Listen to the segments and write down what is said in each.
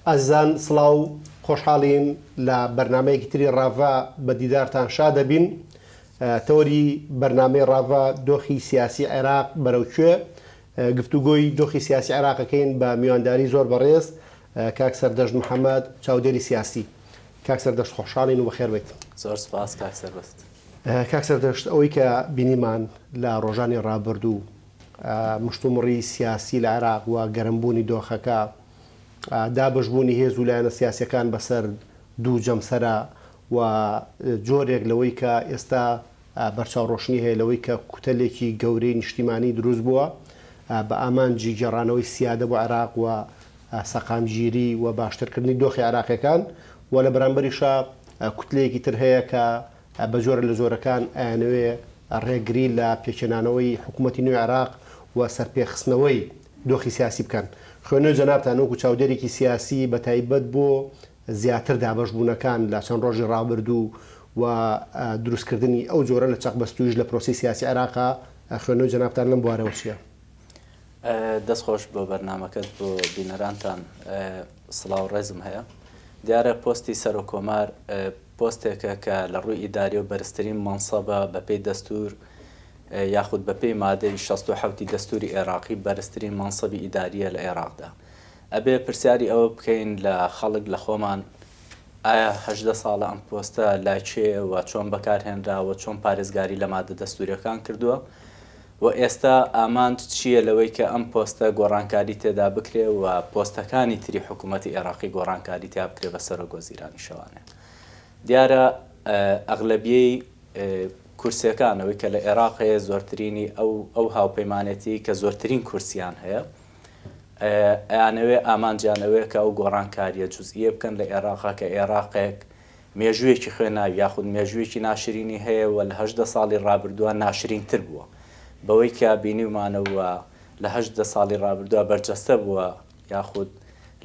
ئەزیزان سڵاو خۆشحاڵین لە بەرنامەیەکی تری ڕاڤە بە دیدارتان شادەبین تەوەری بەرنامەی ڕاڤە دۆخی سیاسی عێراق بەرەو کوێ گفتوگۆی دۆخی سیاسی عێراقەکەین بە میوانداری زۆر بەڕێز کاک سەردەشت محەمەد چاودێری سیاسی کاک سەردەشت خۆشحاڵین و بەخێر بێت زۆر سپاس کاک سەربەست کاک سەردەشت ئەوەی کە بینیمان لە ڕۆژانی ڕابردوو مشتومڕی سیاسی لە عێراق و گەرمبوونی دۆخەکە دابەشبوونی هێز و لایەنە سیاسییەکان بەسەر دوو جەمسەرە و جۆرێک لەوەی کە ئێستا بەرچاوڕۆشنی هەیە لەوەی کە کوتەلێکی گەورەی نیشتیمانی دروست بووە بە ئامانجی گێڕانەوەی سیادە بۆ عێراق و سەقامگیری و باشترکردنی دۆخی عێراقییەکان و لە بەرامبەریشا کوتلەیەکی تر هەیە کە بە جۆرە لە جۆرەکان ئەیانەوێ ڕێگری لە پێکهێنانەوەی حکوومەتی نوێی عێراق و سەرپێخستنەوەی دۆخی سیاسی بکەن. خوێنەوەی جەنابتان وەکو چاودێرێکی سیاسی بە تایبەت بۆ زیاتر دابەش بوونەکان لە چەند ڕۆژی ڕابردوو و دروست کردنی ئەو جۆرە لە چەق بەستوویش لە پرۆسەی سیاسی عێراقا خوێنەوەی جەنابتان لەم بوارەوە چیە؟ دەست خۆش بۆ بەرنامەکەت بۆ بینەرانتان سڵاو ڕێزم هەیە دیارە پۆستی سەرۆک کۆمار پۆستێکە کە لە ڕووی ئیداریەوە بەرزترین مەنسەبە بەپێی دەستور یاخود بەپێی مادەی شەست و حەوتی دەستوری ئێراقی بەرزترین مەنسەبی ئیداریە لە ئێراقدا ئەبێ پرسیاری ئەوە بکەین لە خەڵک لە خۆمان ئایا هەژدە ساڵە ئەم پۆستە لای کێیە و چۆن بەکارهێنراوە چۆن پارێزگاری لە مادە دەستوریەکان کردووە و ئێستا ئامانج چییە لەوەی کە ئەم پۆستە گۆڕانکاری تێدا بکرێ و پۆستەکانی تری حکوومەتی ئێراقی گۆڕانکاری تیا بکرێ بە سەرۆک وەزیرانی شەوانێ دیارە ئەغلبیەی کورسیەکان ئەوەی کە لە ئێراق هەیە زۆرترینی ئەو ئەو هاوپەیمانێتی کە زۆرترین کورسیان هەیە ئەیانەوێ ئامانجیان ئەوەیە کە ئەو گۆڕانکاریە جزئیە بکەن لە ئێراقا کە ئێراقێک مێژوویەکی خوێناوی یاخود مێژوویەکی ناشرینی هەیە و لە هەژدە ساڵی ڕابردووە ناشرین تر بووە بەوەی کە بینیومانەوە لە هەژدە ساڵی ڕابردووە بەرجەستە بووە یاخود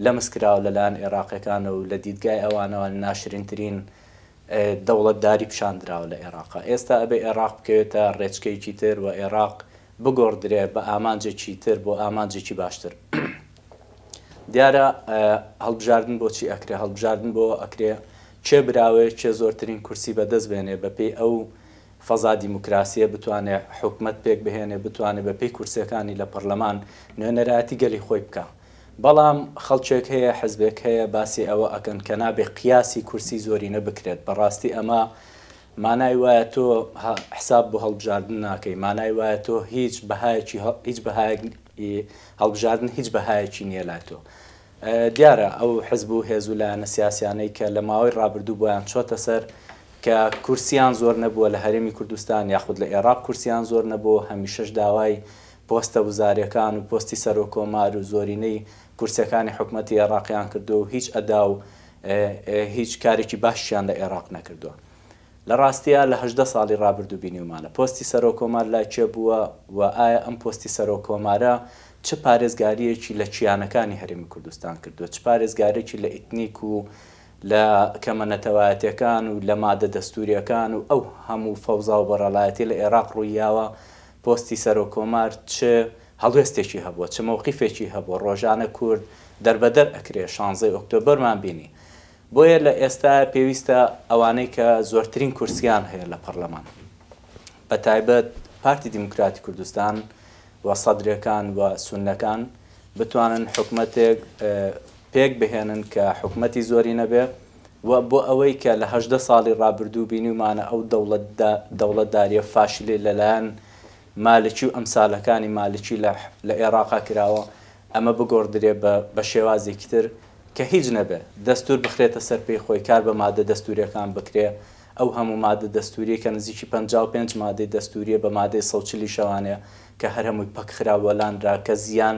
لەمس کراوە لەلایەن ئێراقیەکانە و لە دیدگای ئەوانەوە ناشرینترین دەوڵەتداری پیشان دراوە لە ئێراق. ئێستا ئەبێ ئێراق بکەوێتە ڕێچکەیەکی تر و ئێراق بگۆڕدرێ بە ئامانجێکی تر بۆ ئامانجێکی باشتر. دیارە هەڵبژاردن بۆ چی ئەکرێ؟ هەڵبژاردن بۆ ئەوە ئەکرێ کێ براوەیە، کێ زۆرترین کورسی بە دەست بێنێ بە پێی ئەو فەزا دیموکراسییە بتوانێ حکومەت پێک بهێنێ، بتوانێ بە پێی کورسییەکانی لە پەڕلەمان نوێنەرایەتی گەلی خۆی بکا. بەڵام خەڵکێک هەیە حزبێک هەیە باسی ئەوە ئەکەن کە نابێ قیاسی کورسی زۆرینە بکرێت بەڕاستی ئەمە مانای وایە تۆ حساب بۆ هەڵبژاردن ناکەی مانای وایە تۆ هیچ بەهایەکی هیچ بەهایەک هەڵبژاردن هیچ بەهایەکی نییە لای تۆ دیارە ئەو حزب و هێز و لایەنە سیاسیانەی کە لە ماوەی ڕابردوو بۆیان چۆتە سەر کە کورسیان زۆر نەبووە لە هەرێمی کوردستان یاخود لە ئێراق کورسیان زۆر نەبوو هەمیشەش داوای پۆستە وزاریەکان و پۆستی سەرۆک کۆمار و زۆرینەی کورسیەکانی حکومەتی ئێڕاقیان کردوە و هیچ ئەدا و هیچ کارێکی باشیشیان لە ئێڕاق نەکردوە لە ڕاستیا لە هەژدە ساڵی ڕابردو بینیومانە پۆستی سەرۆک کۆمار لای کێ بوە و ئایا ئەم پۆستی سەرۆک کۆمارە چ پارێزگاریەکی لە کیانەکانی هەرێمی کوردستان کردوە چ پارێزگارێکی لە ئیتنیک و لە کەمە نەتەوایەتیەکان و لە مادە دەستوریەکان و ئەو هەمو فەوزا و بەڕەڵایەتی لە ئێڕاق ڕویاوە پۆستی سەرۆک کۆمار چ هەڵوێستێکی هەبووە، چ مەوقیفێکی هەبووە، ڕۆژانە کورد دەربەدەر ئەکرێ، شانزەی ئۆکتۆبەرمان بینی، بۆیە لە ئێستایە پێویستە ئەوانەی کە زۆرترین کورسییان هەیە لە پەڕلەمان بە تایبەت پارتی دیموکراتی کوردستان و سەدرەکان و سوننەکان بتوانن حکومەتێک پێک بهێنن کە حکومەتی زۆرینە بێ، و بۆ ئەوەی کە لە هەژدە ساڵی ڕابردوو بینیومانە ئەو دەوڵەتداریە فاشلەی لەلایەن مالکی و ئەمسالەکانی مالکی لە ئێراقا کراوە ئەمە بگۆڕدرێ بە شێوازێکی تر کە هیچ نەبێ دەستور بخرێتە سەر پێی خۆی کار بە مادە دەستوریەکان بکرێ ئەو هەموو مادە دەستوریەی کە نزیکی پەنجا و پێنج مادەی دەستوریە بە مادەی سەد و چل شەوانەیە کە هەر هەمووی پەکخرا و لانرا کە زیان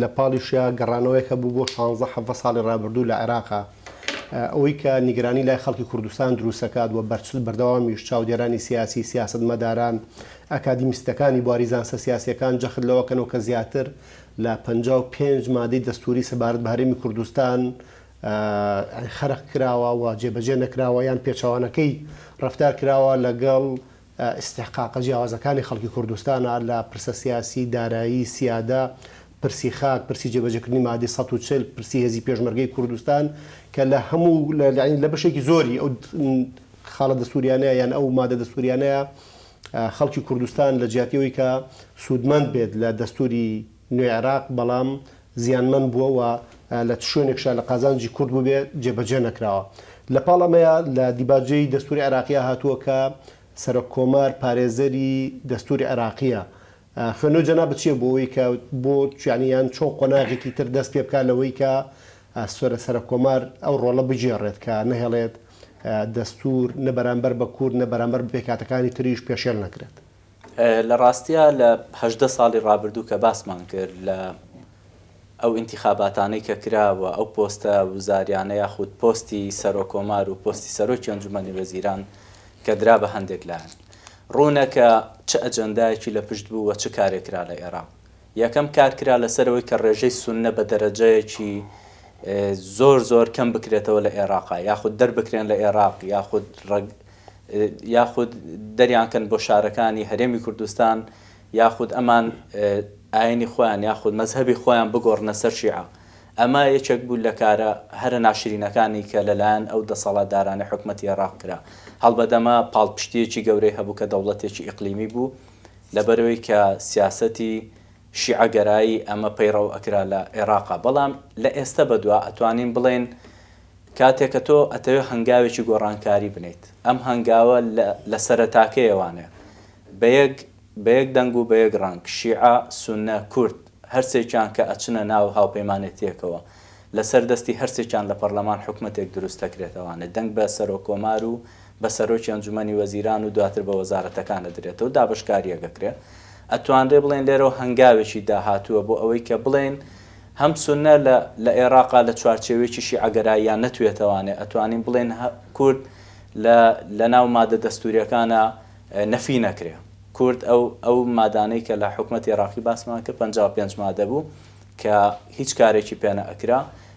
لە پاڵیشیا گەڕانەوەیەک هەبوو بۆ شانزە حەڤە ساڵی ڕابردوو لە عێراق، ئەوەی کە نیگەرانی لای خەڵکی کوردستان دروست دەکات و بەرچل بەردەوامیش چاودێرانی سیاسی، سیاسەتمەداران، ئەکادیمیستەکانی بواری زانستە سیاسییەکان جەخت لەوە کەنەوە کە زیاتر لە پەنجا و پێنج مادەی دەستووری سەبارەت بە هەرێمی کوردستان خەرق کراوە و جێبەجێ نەکراوە یان پێچەوانەکەی ڕەفتار کراوە لەگەڵ ئیستحقاقە جیاوازەکانی خەڵکی کوردستانە لە پرسە سیاسی، دارایی، سیادە، پرسی خاک، پرسی جێبەجێکردنی مادەی سەد و چل، پرسی هێزی پێشمەرگەی کوردستان کە لە هەموو یانی لە بەشێکی زۆری ئەو خاڵە دەستووریانەیە یان ئەو مادە دەستووریانەیە خەڵکی کوردستان لە جیاتی ئەوەی کە سوودمەند بێت لە دەستووری نوێی عێراق بەڵام زیانمەند بووە و لە چ شوێنێکشا لە قازانجی کورد بووبێ جێبەجێ نەکراوە. لە پاڵ ئەمەیا لە دیباجەی دەستووری عێراقیا هاتووە کە سەرۆک کۆمار پارێزەری دەستووری عێراقییە. خوێندنەوەی جەنابت چییە بۆ ئەوەی کە بۆ یانی یان چۆن قۆناغێکی تر دەست پێ بکا لەوەی کە سەرە سەرۆک کۆمار ئەو ڕۆڵە بگێڕێت کە نەهێڵێت دەستوور نە بەرامبەر بە کورد نە بەرامبەر بە پێکهاتەکانی تریش پێشێل نەکرێت؟ لە ڕاستیا لە هەژدە ساڵی ڕابردوو کە باسمان کرد لە ئەو ئینتیخاباتانەی کە کرا و ئەو پۆستە وزاریانە یاخود پۆستی سەرۆکۆمار و پۆستی سەرۆکی ئەنجومەنی وەزیران کە درا بە هەندێک لایەن ڕوونە کە چ ئەجەندایەکی لە پشت بوو و چ کارێک کرا لە ئێراق. یەکەم کار کرا لەسەرەوەی کە ڕێژەی سوننە بە دەرەجەیەکی زۆر زۆر کەم بکرێتەوە لە ئێراق یاخود دەربکرێن لە ئێراق یاخود ڕەگ یاخود دەریان کەن بۆ شارەکانی هەرێمی کوردستان یاخود ئەمان ئاینی خۆیان یاخود مەزهەبی خۆیان بگۆڕنە سەر شیعە ئەمە یەکێک بوو لە کارە هەرە ناشرینەکانی کە لەلایەن ئەو دەسەڵاتدارانی حکومەتی ئێراق کرا هەڵبەت ئەمە پاڵپشتیەکی گەورەی هەبوو کە دەوڵەتێکی ئیقلیمی بوو لەبەرەوەی کە سیاسەتی شیعە گەرایی ئەمە پەیڕەو ئەکرا لە عێڕاقا بەڵام لە ئێستە بەدوا ئەتوانین بڵێین کاتێ کە تۆ ئەتەوێ هەنگاوێکی گۆڕانکاری بنێیت ئەم هەنگاوە لە لە سەرەتاکەیەوانە بە یەک بە یەک دەنگ و بە یەک ڕەنگ شیعە، سوننە، کورد هەر سێکیان کە ئەچنە ناو هاوپەیمانێتیەکەوە لە سەر دەستی هەر سێکیان لە پەڕلەمان حکومەتێک دروست ئەکرێتەوانە دەنگ بە سەرۆک کۆمار و بە سەرۆکی ئەنجومەنی وەزیران و دواتر بە وەزارەتەکان ئەدرێتەوە و دابەشکاریەک ئەکرێ ئەتوانرێ بڵێن لێرەوە هەنگاوێکی داهاتووە بۆ ئەوەی کە بڵێین هەم سونە لە لە ئێراقا لە چوارچێوەیەکی شیعەگەراییان نەتوێتەوانێ ئەتوانین بڵێن کورد لە لە ناو مادە دەستوریەکانا نەفی نەکرێ کورد ئەو ئەو مادانەی کە لە حکومەتی ئێراقی باسمان کرد پەنجا و پێنج مادە بوو کە هیچ کارێکی پێ نەئەکرا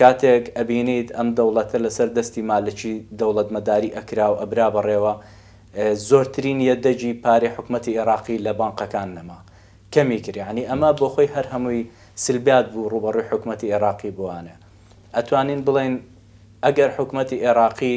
کاتێک ئەبینیت ئەم دەوڵەتە لەسەر دەستی مالکی دەوڵەتمەداری ئەکرا و ئەبرا بەڕێوە، زۆرترین یەدەگی پارەی حکومەتی ئێڕاقی لە بانقەکان نەما، کەمی کرد، یەعنی ئەمە بۆ خۆی هەر هەمووی سلبیات بوو ڕووبەڕووی حکومەتی ئێڕاقی بووانێ. ئەتوانین بڵێین ئەگەر حکومەتی ئێڕاقی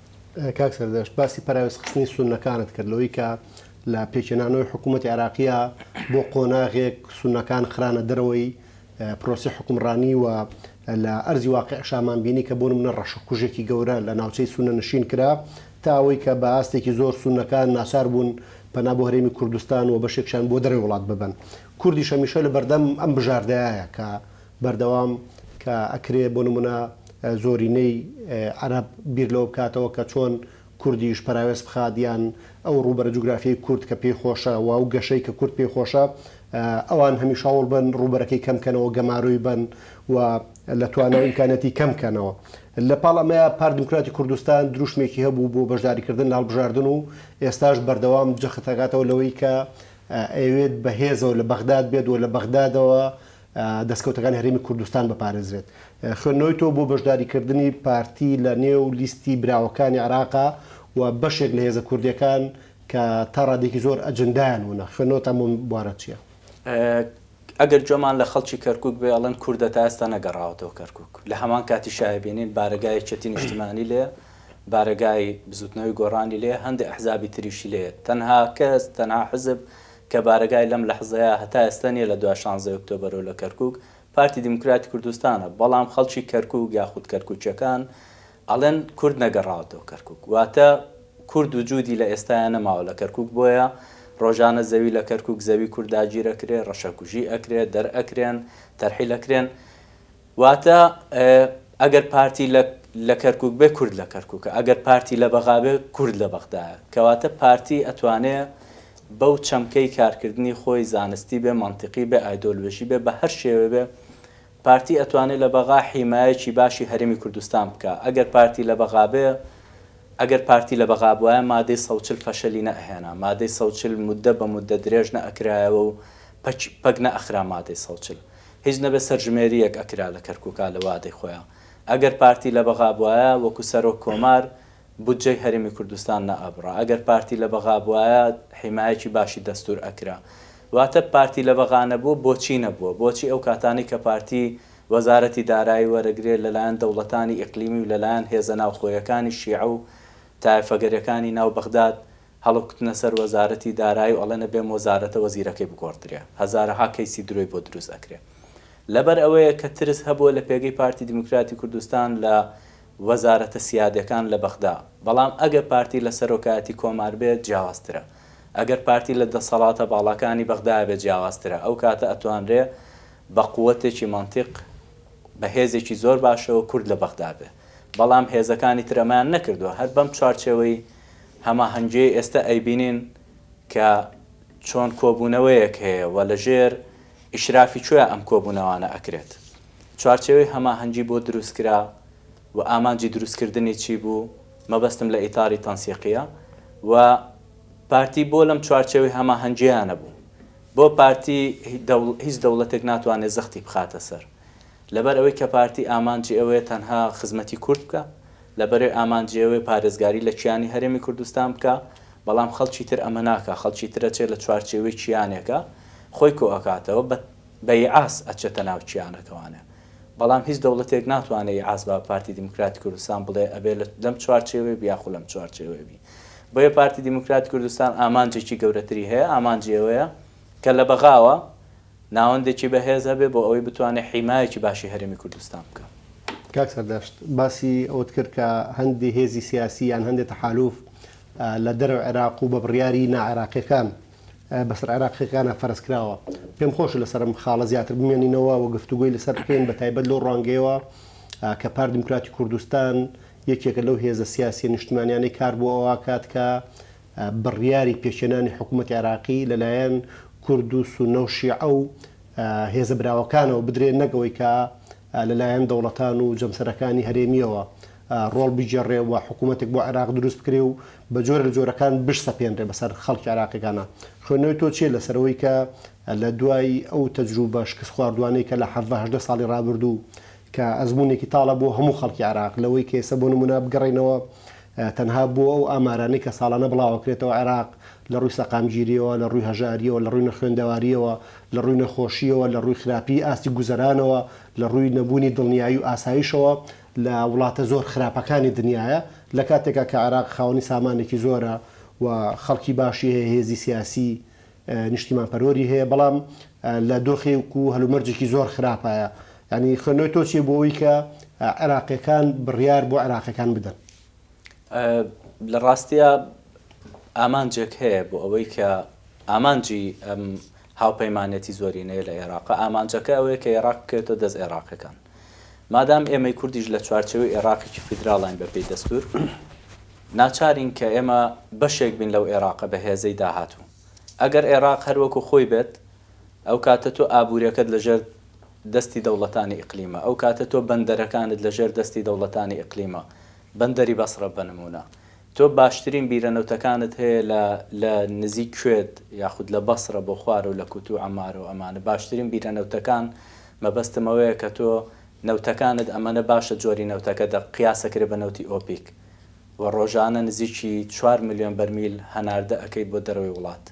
کاک سەردەشت باسی پەراوێز خستنی سوننەکانت کرد لەوەی کە لە پێکهێنانەوەی حکوومەتی عێراقیە بۆ قۆناغێک سوننەکان خرانە دەرەوەی پرۆسی حکومڕانی و لە ئەرزی واقعشامان بینی کە بۆن منە ڕەشە کوژێکی گەورە لە ناوچەی سونە نشین کرا تا ئەوەی کە بە ئاستێکی زۆر سوننەکان ناچار بوون پەنا بۆ هەرێمی کوردستان و بەشێکشان بۆ دەرەوەی وڵات ببەن کوردیش هەمیشە لە بەردەم ئەم بژاردەیە کە بەردەوام کە ئەکرێ بۆ نمونە زۆرینەی عەرەب بیر لەوە بکاتەوە کە چۆن کوردیش پەراوێز بخات یان ئەو ڕووبەرە جوگرافیەی کورد کە پێی خۆشە و ئەو گەشەی کە کورد پێی خۆشە ئەوان هەمیش هەوڵ بن ڕووبەرەکەی کەم کەنەوە گەمارۆی بن و لە توانەوە ئیمکانەتی کەم کەنەوە لە پاڵ ئەمەیە پارت دیموکراتی کوردستان دروشمێکی هەبوو بۆ بەشداری کردن لە هەڵبژاردن و ئێستاش بەردەوام جەخت ئەکاتەوە لەوەی کە ئەیەوێت بە هێزەوە لە بەغداد بێت و لە بەغدادەوە دەستکەوتەکانی هەرێمی کوردستان بپارێزرێت. خوێندنەوەی تۆ بۆ بەشداریکردنی پارتی لە نێو لیستی براوەکانی عێراقە و بەشێک لە هێزە کوردییەکان کە تا ڕادەیەکی زۆر ئەجندایان ونە، خوێندنەوەتان بۆم بوارە چییە؟ ئەگەر گوێمان لە خەڵکی کەرکوک بێ ئەڵێن کوردە تا ئێستا نەگەڕاوەتەوە کەرکوک، لە هەمان کاتیش ئەبینین بارەگای یەکێتی نیشتمانی لێیە، بارەگای بزوتنەوەی گۆڕانی لێیە، هەندێ ئەحزابی تریشی لێیە، تەنها کەس، تەنها حزب کە بارەگای لەم لەحزەیە هەتا ئێستا نیە لە دوای شانزەی ئۆکتۆبەرو لە کەرکوک پارتی دیموکراتی کوردستانە بەڵام خەڵکی کەرکوک یاخود کەرکوکیەکان ئەڵێن کورد نەگەڕاوەتەوە کەرکوک واتە کورد وجودی لە ئێستایا نەماوە لە کەرکوک بۆیە ڕۆژانە زەوی لە کەرکوک زەوی کورد داگیرەکرێ ڕەشەکوژی ئەکرێ دەرئەکرێن تەرحیل ئەکرێن واتە ئەگەر پارتی لە لە کەرکوک بێ کورد لە کەرکوکە ئەگەر پارتی لە بەغا بێ کورد لە بەغدایە کەواتە پارتی ئەتوانێ بەو چەمکەی کارکردنی خۆی زانستی بێ مەنتیقی بێ ئایدۆلۆژی بێ بە هەر شێوێ بێ پارتی ئەتوانێ لە بەغا حیمایەکی باشی هەرێمی کوردستان بکا ئەگەر پارتی لە بەغا بێ ئەگەر پارتی لە بەغا بوایە مادەی سەد و چل فەشەلی نەئەهێنا مادەی سەد و چل موددە بە موددە درێژ نەئەکرایەوە و پەک پەک نەئەخرا مادەی سەد و چل. هیچ نەبێ سەرژمێریەک ئەکرا لە کەرکوکا لە وادەی خۆیا ئەگەر پارتی لە بەغا بوایە وەکو سەرۆک کۆمار بودجەی هەرێمی کوردستان نە ئەبڕا ئەگەر پارتی لە بەغا بوایە حیمایەکی باشی دەستور ئەکرا واتە پارتی لە بەغا نەبوو بۆچی نەبووە بۆچی ئەو کاتانەی کە پارتی وەزارەتی دارایی وەرەگرێ لە لایەن دەوڵەتانی ئیقلیمی و لە لایەن هێزە ناوخۆیەکانی شیعە و تایەفەگەرەکانی ناو بەغداد هەڵکوتنە سەر وەزارەتی دارایی و ئەڵێن ئەبێ مۆزارەتە وەزیرەکەی بگۆڕدرێ هەزارەها کەیسی درۆی بۆ دروست ئەکرێ لەبەر ئەوەیە کە ترس هەبووە لە پێگەی پارتی دیموکراتی کوردستان لە وەزارەتە سیادەکان لە بەغدا بەڵام ئەگەر پارتی لە سەرۆکایەتی کۆمار بێت جیاوازترە ئەگەر پارتی لە دەسەڵاتە باڵاکانی بەغدا بێت جیاوازترە ئەو کاتە ئەتوانرێ بە قوەتێکی مەنتیق بە هێزێکی زۆر باشەوە کورد لە بەغدا بێ بەڵام هێزەکانی تر ئەمەیان نەکردوە هەر بەم چوارچێوەی هەماهەنگیەی ئێستە ئەیبینین کە چۆن کۆبوونەوەیەک هەیە و لە ژێر ئیشرافی کێ ئەم کۆبوونەوانە ئەکرێت؟ چوارچێوەی هەماهەنگی بۆ دروست کرا و ئامانجی دروست کردنی چی بوو؟ مەبەستم لە ئیتاری تەنسیقیە و پارتی بۆ لەم چوارچێوەی هەماهەنگیە نەبوو؟ بۆ پارتی هیچ دەوڵەتێک ناتوانێت زەختی بخاتە سەر لەبەر ئەوەی کە پارتی ئامانجی ئەوەیە تەنها خزمەتی کورد بکا لەبەرئ ئامانجی ئەوەیە پارێزگاری لە کیانی هەرێمی کوردستان بکا، بەڵام خەڵکی تر ئەمە ناکا، خەڵکی تر ئەچێ لە چوارچێوەی کیانێکا خۆی کۆ ئەکاتەوە، بە بە ئیعاس ئەچێتە ناو کیانەکەوانێ، بەڵام هیچ دەوڵەتێک ناتوانێ ئیعاس با پارتی دیموکراتی کوردستان بڵێ ئەبێ لە لەم چوارچێوەی بی یاخو لەم چوارچێوەی بی، بۆیە پارتی دیموکراتی کوردستان ئامانجێکی گەورەتری هەیە، ئامانجی ئەوەیە کە لە بەغاوە، ناوەندێکی بەهێز هەبێت بۆ ئەوەی بتوانێت حیمایەکی باشی هەرێمی کوردستان بکات. کاک سەردەشت باسی ئەوەت کرد کە هەندێ هێزی سیاسی یان هەندێ تەحالوف لە دەرەوەی عێراق و بە بڕیاری نا عێراقیەکان بەسەر عێراقیەکانا فەرز کراوە. پێم خۆشە لەسەر ئەم خاڵە زیاتر بمێنینەوە و گفتوگۆی لەسەر بکەین بە تایبەت لەو ڕوانگەیەوە کە پارتی دیموکراتی کوردستان یەکێکە لەو هێزە سیاسیە نیشتمانیانەی کار بۆ ئەوە ئەکات کە بڕیاری پێکهێنانی حکوومەتی عێراقی لەلایەن کورد و سوننە و شیعە و هێزە براوەکانەوە بدرێ نەک ئەوەی کە لەلایەن دەوڵەتان و جەمسەرەکانی هەرێمییەوە ڕۆڵ بگێڕێ و حکوومەتێک بۆ عێراق دروست بکرێ و بە جۆرە لە جۆرەکان بشسەپێنرێ بەسەر خەڵکی عێراقییەکانا. خوێندنەوەی تۆ چییە لەسەر ئەوەی کە لە دوای ئەو تەجرووبە شکستخواردووانەی کە لە حەڤدە هەژدە ساڵی ڕابردوو کە ئەزموونێکی تاڵە بۆ هەموو خەڵکی عێراق، لەوەی کە ئێستا بۆ نموونە بگەڕێینەوە تەنها بۆ ئەو ئامارانەی کە ساڵانە بڵاوەکرێتەوە عێراق لە ڕووی سەقامگیرییەوە، لە ڕووی هەژارییەوە، لە ڕووی نەخوێندەوارییەوە، لە ڕووی نەخۆشییەوە، لە ڕووی خراپیی ئاستی گوزەرانەوە، لە ڕووی نەبوونی دڵنیایی و ئاسایشەوە لە وڵاتە زۆر خراپەکانی دنیایە، لە کاتێکا کە عێراق خاوەنی سامانێکی زۆرە و خەڵکی باشی هەیە، هێزی سیاسی، نیشتیمان پەروەری هەیە بەڵام لە دۆخێک و هەلومەرجێکی زۆر خراپایە یانی خوێندنەوەی تۆ چیە بۆ ئەوەی کە عێراقیەکان بڕیار بۆ عێراقیەکان بدەن؟ لە ڕاستیە ئامانجێک هەیە بۆ ئەوەی کە ئامانجی ئەم هاوپەیمانەتی زۆرینەیە لە عێراق ئامانجەکە ئەوەیە کە عێراق بکەێتەوە دەست عێراقەکان مادام ئێمەی کوردیش لە چوارچێوەی ئێراقێکی فیدراڵین بەپێی دەستوور، ناچارین کە ئێمە بەشێک بین لەو ئێراقە بەهێزەی داهاتوو. ئەگەر ئێراق هەر وەکو خۆی بێت، ئەو کاتە تۆ ئابووریەکەت لەژێر دەستی دەوڵەتانی ئیقلیمە، ئەو کاتە تۆ بەندەرەکانت لەژێر دەستی دەوڵەتانی ئیقلیمە، بەندەری بەسڕە بەنموونە، تۆ باشترین بیرە نەوتەکانت هەیە لە لە نزیک کوێت یاخود لە بەسرە بۆ خوارەوە لە کوت و عەمارە و ئەمانە باشترین بیرە نەوتەکان مەبەستم ئەوەیە کە تۆ نەوتەکانت ئەمەنە باشە جۆری نەوتەکە دەق قیاس ئەکرێ بە نەوتی ئۆپیک و ڕۆژانە نزیکی چوار ملیۆن بەرمیل هەناردە ئەکەیت بۆ دەرەوەی وڵات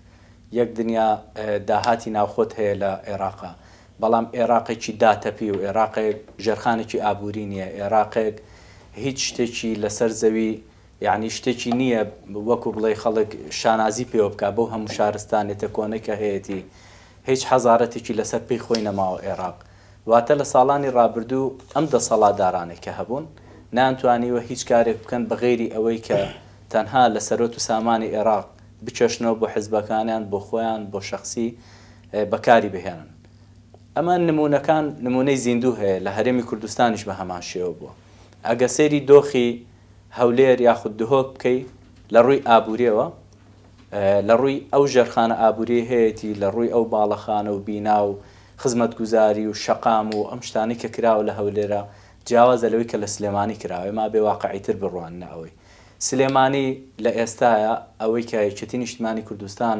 یەک دنیا داهاتی ناوخۆت هەیە لە عێراقا بەڵام ئێراقێکی داتەپی و ئێراقێک ژێرخانێکی ئابووری نییە، ئێراقێک هیچ شتێکی لەسەر زەوی یەعنی شتێکی نییە وەکو بڵێی خەڵک شانازی پێوە بکات بەو هەموو شارستانێتە کۆنەی کە هەیەتی، هیچ حەزارەتێکی لەسەر پێی خۆی نەماوە ئێراق. واتە لە ساڵانی ڕابردوو ئەم دەسەڵاتدارانەی کە هەبوون نەیانتوانیوە هیچ کارێک بکەن بە غەیری ئەوەی کە تەنها لە سەروەت و سامانی ئێراق بکێشنەوە بۆ حزبەکانیان، بۆ خۆیان، بۆ شەخسی بەکاری بهێنن. ئەمە نموونەکان نموونەی زیندوو هەیە لە هەرێمی کوردستانیش بە هەمان شێوە بووە. ئەگە سەیری دۆخی هەولێر یاخود دهۆک بکەی لە ڕووی ئابووریەوە لە ڕووی ئەو ژێرخانە ئابووریەی هەیەتی لە ڕووی ئەو باڵەخانە و بینا و خزمەتگوزاری و شەقام و ئەم شتانەی کە کراوە لە هەولێرا جیاوازە لەوەی کە لە سلێمانی کراوە ئێمە ئەبێ واقعیتر بڕواننە ئەوەی سلێمانی لە ئێستایا ئەوەی کە یەکێتی نیشتمانی کوردستان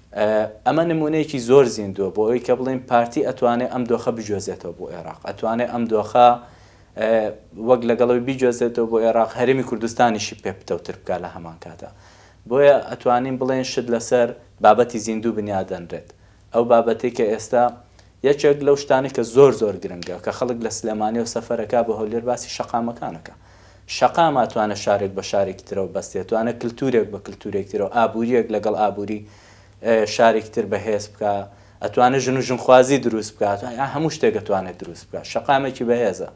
ئەمە نموونەیەکی زۆر زیندووە بۆ ئەوەی کە بڵێین پارتی ئەتوانێ ئەم دۆخە بگوێزێتەوە بۆ ئێراق، ئەتوانێ ئەم دۆخە وەک لەگەڵ ئەوی بیگوێزێتەوە بۆ ئێراق، هەرێمی کوردستانیشی پێ پتەوتر بکات لە هەمان کاتا. بۆیە ئەتوانین بڵێین شت لەسەر بابەتی زیندوو بنیادەنرێت. ئەو بابەتەی کە ئێستا یەکێک لەو شتانەی کە زۆر زۆر گرنگە کە خەڵک لە سلێمانیەوە سەفەر ئەکا بۆ هەولێر باسی شەقامەکان ئەکا. شەقام ئاتوانە شارێک بە شارێکی ترەوە بەستێ، توانە کلتورێک بە کلتورێکی ترەوە، ئابوریەک لەگەڵ ئابوری شارێکی تر بەهێز بکا، ئەتوانێ ژن و ژنخوازی دروست بکا، ئەتوانێ هەموو شتێک ئەتوانێ دروست بکا. شەقامێکی بەهێزە.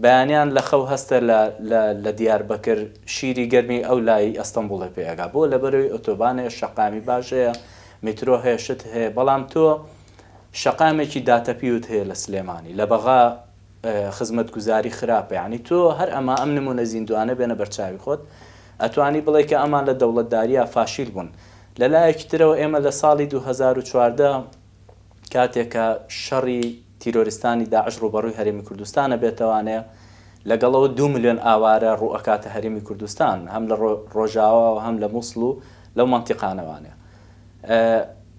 بەیانیان لە خەو هەستە لە لە لە دیاربەکر شیری گەرمی ئەو لای ئەستەنبوڵێ پێ ئەگا. بۆ؟ لەبەرەوەی ئۆتۆبان هەیە، شەقامی باش هەیە، میترۆ هەیە، شت هەیە. بەڵام تۆ شەقامێکی داتەپیوت هەیە لە سلێمانی لە بەغا خزمەتگوزاری خراپە یعنی تۆ هەر ئەما ئەم نمونە زیندوانە بێنە بەرچاوی خۆت ئەتوانی بڵێ کە ئەمان لە دەوڵەتداریا فاشیل بوون لە لایەکی ترەوە ئێمە لە ساڵی 2014 کاتێک کە شەڕی تیرۆریستانی داعش ڕوبەڕوی هەرێمی کوردستانە بێتەوانێ لەگەڵەوە دو ملیۆن ئاوارە ڕوئەکاتە هەرێمی کوردستان هەم لە ڕۆژاوا و هەم لە موسڵ و لەو مەنتیقانەوانێ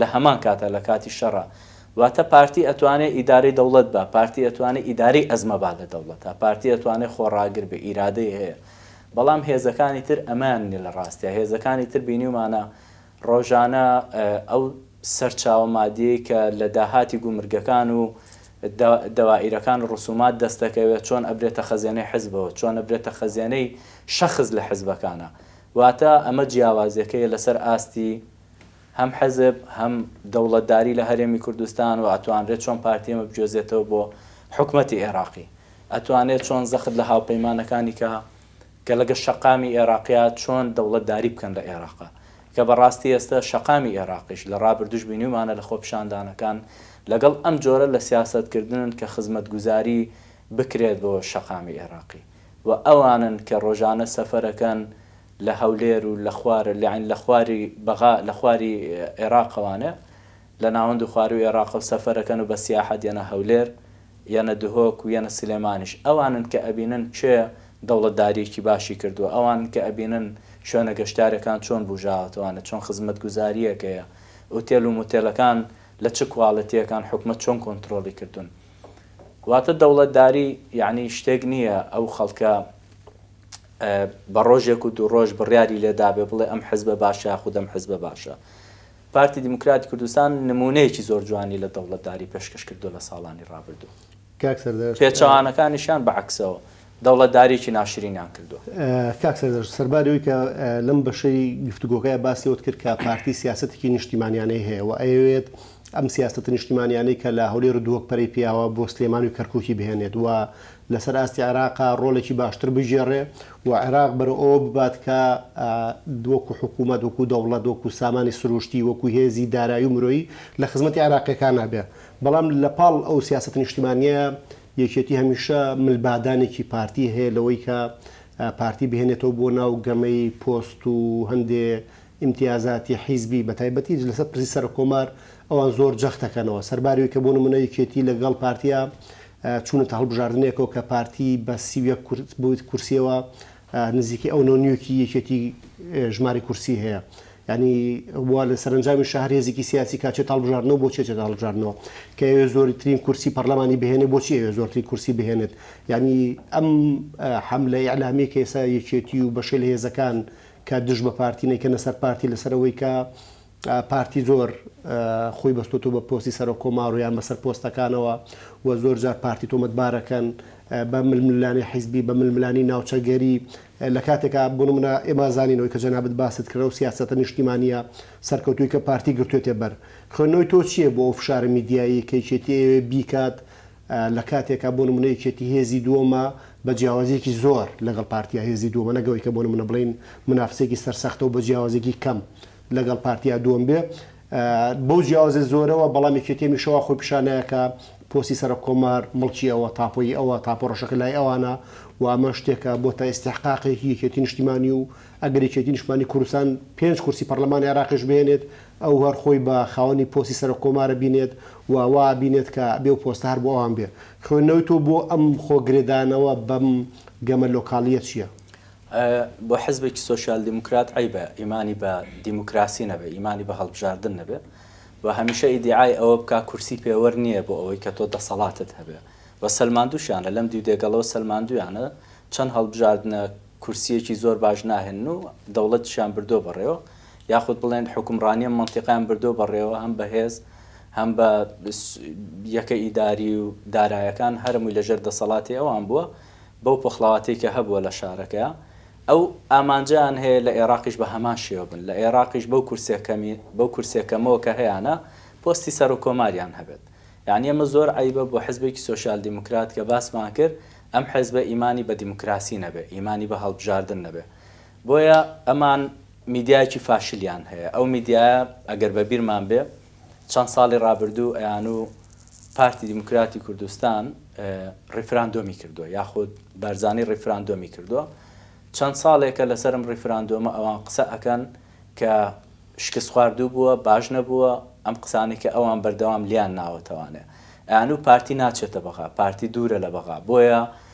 لە هەمان کاتا لە کاتی شەڕا واتە پارتی ئەتوانێ ئیدارەی دەوڵەت با پارتی ئەتوانێ ئیدارەی ئەزمە با لە دەوڵەتا پارتی ئەتوانێ خۆڕاگر بێ ئیرادەی هەیە بەڵام هێزەکانی تر ئەمەیان نیە لە ڕاستیا هێزەکانی تر بینیومانە ڕۆژانە ئەو سەرچاوە مادیەی کە لە داهاتی گومرگەکان و دە دەوائیرەکان ڕسومات دەستەکەوێ چۆن ئەبرێتە خەزێنەی حزبەوە چۆن ئەبرێتە خەزێنەی شەخس لە حزبەکانا واتە ئەمە جیاوازیەکەیە لەسەر ئاستی هەم حزب هەم دەوڵەتداری لە هەرێمی کوردستان و ئەتوانرێت چۆن پارتی ئێمە بگوێزێتەوە بۆ حکومەتی ئێراقی ئەتوانێت چۆن زەخت لە هاوپەیمانەکانی کا کە لەگە شەقامی ئێراقیا چۆن دەوڵەتداری بکەن لە ئێراقا کە بەڕاستی ئێستا شەقامی ئێراقیش لە ڕابردوش بینیومانە لە خۆپیشاندانەکان لەگەڵ ئەم جۆرە لە سیاسەت کردنن کە خزمەتگوزاری بکرێت بۆ شەقامی ئێراقی و ئەوانن کە ڕۆژانە سەفەرەکەن لە هەولێر و لە خوار یانی لە خواری بەغا لە خواری ئێراقەوانە لە ناوەند و خوارووی ئێراقەوە سەفەر ئەکەن و بە سیاحەت یەنە هەولێر یەنە دهۆک و یەنە سلێمانیش ئەوانن کە ئەبینن کێ دەوڵەتدارییەکی باشی کردووە ئەوانن کە ئەبینن شوێنە گەشتیارەکان چۆن بووژاوەتەوانە چۆن خزمەتگوزارییەک هەیە ئوتێل و موتێلەکان لە چ کواڵێتییەکان حکومەت چۆن کۆنترۆڵی کردوون واتە دەوڵەتداری یانی شتێک نییە ئەو خەڵکە بە ڕۆژێک و دوو ڕۆژ بڕیاری لێ دابێ بڵێ ئەم حزبە باشە یاخود ئەم حزبە باشە. پارتی دیموکراتی کوردستان نموونەیەکی زۆر جوانی لە دەوڵەتداری پێشکەش کردووە لە ساڵانی ڕابردوو. کاک سەردەشت. پێچەوانەکانیشیان بە عەکسەوە دەوڵەتداریی ناشرینیان کردووە. کاک سەردەشت، سەرباری ئەوەی کە لەم بەشەی گفتوگۆکە باسی ئەوەت کرد کە پارتی سیاسەتێکی نیشتیمانیانەی هەیە و ئەیەوێت ئەم سیاسەتە نیشتیمانیانەی کە لە هەولێر و دووەک پەرەی پیاوە بۆ سلێمانی و کەرکووکی بهێنێت و لەسەر ئاستی عێراقە ڕۆڵێکی باشتر بگێڕێ و عێراق بەرەو ئەوە ببات کە وەکو حکوومەت، وەکو دەوڵەت، وەکو سامانی سرووشتی، وەکو هێزی دارایی و مرۆیی لە خزمەتی عێراقییەکانا بێ. بەڵام لە پاڵ ئەو سیاسەتە نیشتیمانییە، یەکێتی هەمیشە مل بادانێکی پارتی هەیە لەوەی کە پارتی بهێنێتەوە بۆ ناو گەمەی پۆست و هەندێ ئیمتیازاتی حیزبی بە تایبەتی لەسەر پرسی سەرۆک کۆمار ئەوان زۆر جەخت ئەکەنەوە سەرباری ئەوی کە بۆ نمونە یەکێتی لە گەڵ پارتیا چونەتە هەڵبژاردنێکەوە کە پارتی بە سی و یەک کورس بویت کورسیەوە نزیکەی ئەو نۆ نیوکی یەکێتی ژماری کورسی هەیە یانی وا لە سەرەنجامی شە هەر هێزیکی سیاسی کا چێت هەڵبژاردنەوە بۆ چێت هەڵبژاردنەوە کە ئەوێ زۆری ترین کورسی پەرلەمانی بهێنێ بۆچی ئەوێ زۆرتری کورسی بهێنێت یانی ئەم حەملە ئیعلامی کە ئێسا یەکێتی و بەشێ لە هێزەکان کە دژ بە پارتی نەیکەنە سەر پارتی لەسەر ئەوەی کە پارتی زۆر خۆی بەستۆتەوە بە پۆستی سەرۆک کۆمار و یان بەسەر پۆستەکانەوە و زۆر جار پارتی تۆمەتبارەکەن بە ململانی حیزبی بە ململانی ناوچەگەری لە کاتێکا بۆ منە ئێمە زانینەوەی کە جەنابەت باست کردەوە سیاستە نیشتیمانە سەرکەوتوی کە پارتی گرتوێتێ بەر خوێندنەوەی تۆ چییە بۆ ئەو فشارە میدیایی کەیچێتی ئەوێ بیکات لە کاتێکا بۆ نمونە یەکێتی هێزی دووەمە بە جیاوازیەکی زۆر لەگەڵ پارتیا هێزی دووەمە نەک ئەوەی کە بۆ نمونە بڵێین منافسەیەکی سەرسەختە و بە جیاوازیەکی کەم لەگەڵ پارتیا دووەم بێ بەو جیاوازە زۆرەوە بەڵام یەکێتی هەمیشە وا خۆی پیشان نایە کە پۆستی سەرۆک کۆمار مڵکی ئەوە تاپۆی ئەوە تاپۆ ڕەشەکە لای ئەوانە و ئەمە شتێکە بۆتە ئیستیحقاقێکی یەکێتی نیشتیمانی و ئەگەر یەکێتی نیشتمانی کوردستان پێنج کورسی پەرلەمانی عێراقیش بهێنێت ئەو هەر خۆی بە خاوەنی پۆستی سەرۆک کۆمار ئەبینێت و وا ئەبینێت کە ئەبێ ئەو پۆستە هەر بۆ ئەوان بێ. خوێندنەوەی تۆ بۆ ئەم خۆ گرێدانەوە بەم گەمە لۆکاڵییە چییە؟ بۆ حزبێکی سۆسیال دیموکرات عەیبە ئیمانی بە دیموکراسی نەبێ، ئیمانی بە هەڵبژاردن نەبێ و هەمیشە ئیدیعای ئەوە بکا کورسی پێوەر نییە بۆ ئەوەی کە تۆ دەسەڵاتت هەبێ و سەلماندووشیانە، لەم دیو دێگەڵەوە سەلماندوویانە چەند هەڵبژاردنە کورسییەکی زۆر باش ناهێنن و دەوڵەتیشیان بردووە بەڕێوە. یاخود بڵێن حوکمڕانی ئەم مەنتیقەیان بردووە بەڕێوە هەم بە هێز هەم بە یەکە ئیداری و دارایەکان هەرەمووی لە ژێر دەسەڵاتی ئەوان بووە بەو پۆخڵاواتەی کە هەبووە لە شارەکەیا ئەو ئامانجەیان هەیە لە ئێراقیش بە هەمان شێوە بن لە ئێراقیش بەو کورسیە کەمی بەو کورسیە کەمەوە کە هەیانە پۆستی سەرۆک کۆماریان هەبێت یانی ئەمە زۆر عەیبە بۆ حزبێکی سۆسیال دیموکرات کە باسمان کرد ئەم حزبە ئیمانی بە دیموکراسی نەبێ ئیمانی بە هەڵبژاردن نەبێ بۆیە ئەمان میدیایەکی فاشلیان هەیە ئەو میدیایە ئەگەر بە بیرمان بێ چەند ساڵی ڕابردوو ئەیانوو پارتی دیموکراتی کوردستان ڕیفراندۆمی کردووە یاخود بارزانی ڕیفراندۆمی کردووە چەند ساڵێکە لەسەرم ڕیفراندۆمە ئەوان قسە ئەکەن کە شکست خواردوو بووە باش نەبووە ئەم قسانەی کە ئەوان بەردەوام لیان ناوەتەوانێ ئەیانوو پارتی ناچێتە بەغا پارتی دوورە لە بەغا بۆیە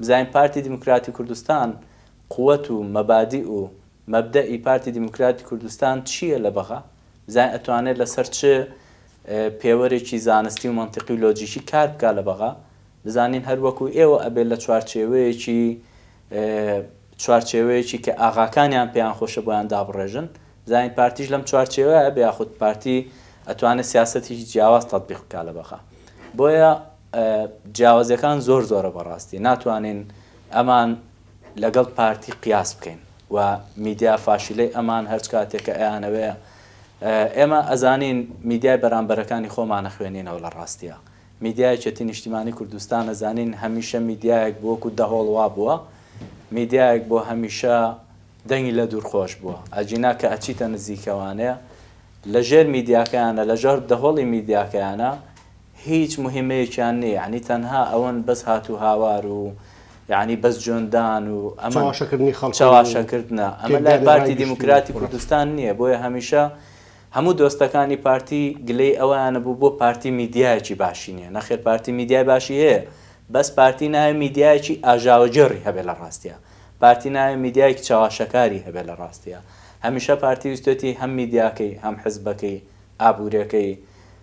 بزانین پارتی دیموکراتی کوردستان قوت و مەبادیئ و مەبدەئ پارتی دیموکراتی کوردستان چییە لە بەغا؟ بزانین ئەتوانێت لە سەر چ پێوەرێکی زانستی و مەنتیقی و لۆجیکی کار بکات لە بەغا؟ بزانین هەر وەکو ئێوە ئەبێت لە چوارچێوەیەکی چوارچێوەیەکی کە ئاغاکانیان پێیان خۆشە بۆیان دابڕێژن؟ بزانین پارتیش لەم چوارچێوەیە ئەبێ یاخود پارتی ئەتوانێت سیاسەتێکی جیاواز تەتبیق بکات لە بەغا؟ بۆیە جیاوازیەکان زۆر زۆرە بەڕاستی ناتوانین ئەمان لەگەڵ پارتی قیاس بکەین و میدیا فاشیلەی ئەمان هەرچ کاتێک کە ئەیانەوەیە ئێمە ئەزانین میدیای بەرامبەرەکانی خۆمان نەخوێنینەوە لە ڕاستیە میدیای چەتی نیشتیمانی کوردستان ئەزانین هەمیشە میدیایەک بۆکو دەهۆڵ وابووە میدیایەک بۆ هەمیشە دەنگی لە دوور خۆش بووە ئەجینا کە ئەچیتە نزیکەوانێ لە ژێر میدیاکەیانە لە ژێر دەهۆڵی میدیاکەیانە هیچ موهیمەیەکیان نیە یەعنی تەنها ئەوەن بەس هاتوو هاوار و یەعنی بەس جۆن دان و ئەمەن چەواشە کردنە ئەمە لای پارتی دیموکراتی کوردستان نیە بۆیە هەمیشە هەموو دۆستەکانی پارتی گلەی ئەوەیانە بوو بۆ پارتی میدیایەکی باشی نیە نەخێر پارتی میدیای باشی هەیە بەس پارتی نایە میدیایەکی ئاژاوە گێڕی هەبێ لە ڕاستیا پارتی نایە میدیایەکی چەواشەکاری هەبێ لە ڕاستیا هەمیشە پارتی ویستوێتی هەم میدیاکەی هەم حزبەکەی ئابورێکەی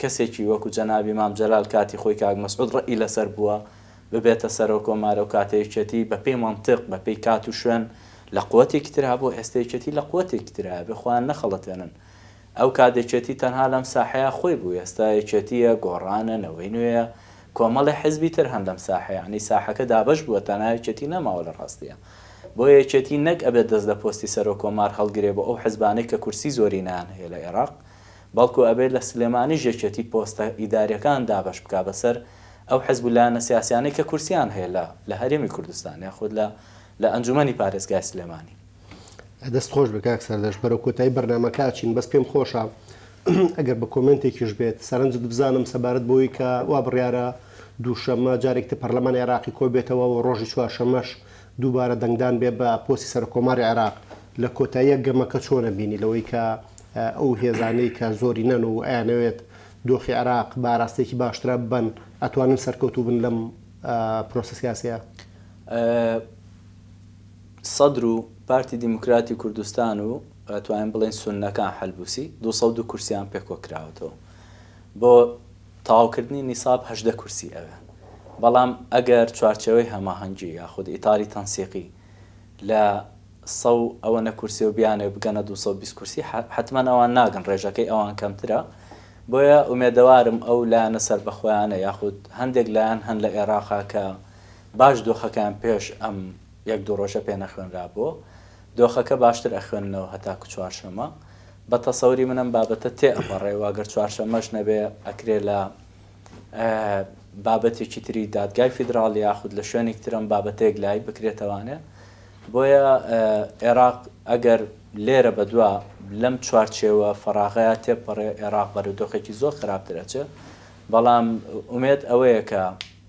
کەسێکی وەکو جەنابی مام جەلال کاتی خۆی کاک مەسعود ڕەئی لەسەر بووە ببێتە سەرۆک کۆمارەو کاتە یەکێتی بەپێی مەنتق بەپێی کات و شوێن لە قوەتێکی ترا بوو ئێستە یەکێتی لە قوەتێکی ترایە بێ خۆیان نەخەڵەتێنن ئەو کات یەکێتی تەنها لەم ساحەیە خۆی بوو ئێستە یەکێتیە گۆڕانە نەوەی نوێیە کۆمەڵێ حزبی تر هەن لەم ساحەیە یەعنی ساحەکە دابەش بووە تەنها یەکێتی نەماوە لە ڕاستیا بۆیە یەکێتی نەک ئەبێت دەست لە پۆستی سەرۆک کۆمار هەڵگرێ بۆ ئەو حزبانەی کە کورسی زۆرینەیان هەیە لە ئێراق بەڵکو ئەبێت لە سلێمانیش یەکێتی پۆستە ئیداریەکان دابەش بکات بەسەر ئەو حزب و لایەنە سیاسیانەی کە کورسیان هەیە لە لە هەرێمی کوردستان یاخود لە لە ئەنجومەنی پارێزگای سلێمانی. دەست خۆش بێ کاک سەردەشت بەرەو کۆتایی بەرنامەکە ئەچین بەس پێم خۆشە ئەگەر بە کۆمێنتێکیش بێت سەرنجت بزانم سەبارەت بەوەی کە وا بڕیارە دووشەممە جارێکتر پەرلەمانی عێراقی کۆبێتەوە و ڕۆژی چوارشەممەش دووبارە دەنگدان بێ بە پۆستی سەرکۆماری عێراق لە کۆتاییە گەمەکە چۆنە بینی لەوەی کە ئەو هێزانەی کە زۆرینەن و ئەیانەوێت دۆخی عێراق بە ئاراستەیەکی باشترا ببەن ئەتوانن سەرکەوتوو بن لەم پرۆسە سیاسیە؟ سەدر و پارتی دیموکراتی کوردستان و ئەتوانین بڵێین سوننەکان حەلبوسی دوو سەد و دو کورسیان پێکۆکراوەتەوە بۆ تەواوکردنی نیساب هەژدە کورسی ئەوێ، بەڵام ئەگەر چوارچێوەی هەماهەنگی یاخود ئیتاری تەنسیقی لە سەو ئەوەنە کورسیو بیانەوێ بگەنە دوو سەد و بیست کورسی حەتمەن ئەوان ناگەن رێژەکەی ئەوان کەمترە بۆیە ئومێدەوارم ئەو لایەنە سەربەخۆیانە یاخود هەندێک لایەن هەن لە ئێراقا کە باش دۆخەکەیان پێش ئەم یەک دوو رۆژە پێنەخوێنرابوو دۆخەکە باشتر ئەخوێننەوە هەتاکو چوارشەمە بە تەسەوری من ئەم بابەتە تێ ئەپەڕێ و گەر چوارشەمەش نەبێ ئەکرێ لە بابەتێکی تری دادگای فیدراڵ یاخود لە شوێنێک ترم بابەتێک لای بکرێتەوانێ بۆیە عێراق ئەگەر لێرە بەدوا لەم چوارچێوە فەراغەیە تێپەڕێ عێراق بەرەو دۆخێکی زۆر خراپترەچێ بەڵام ئومێد ئەوەیە کە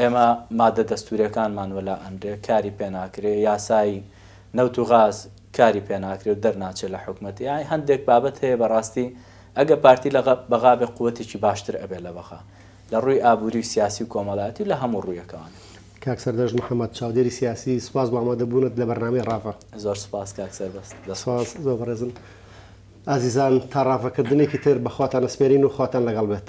ئێمە مادە دەستووریەکانمان وەلا ئەنرێ کاری پێ ناکرێ، یاسای نەوت و غاز کاری پێ ناکرێ و دەرناچێ لە حکومەت، یاعی هەندێک بابەت هەیە بەڕاستی ئەگە پارتی لە بەغا بێ قوەتێکی باشتر ئەبێ لە بەغا لە ڕووی ئابووری و سیاسی و کۆمەڵایەتی و لە هەموو ڕوویەکەوە. کاک سەردەشت محەمەد، چاودێری سیاسی، سوپاس بۆ ئامادەبوونت لە بەرنامەی ڕاڤە. زۆر سوپاس کاک سەربەست. دەست خۆش. سوپاس زۆر بەڕێزن. ئازیزان تا ڕاڤەکردنێکی تر بە خواتان ئەسپێرین و خواتان لەگەڵ بێت.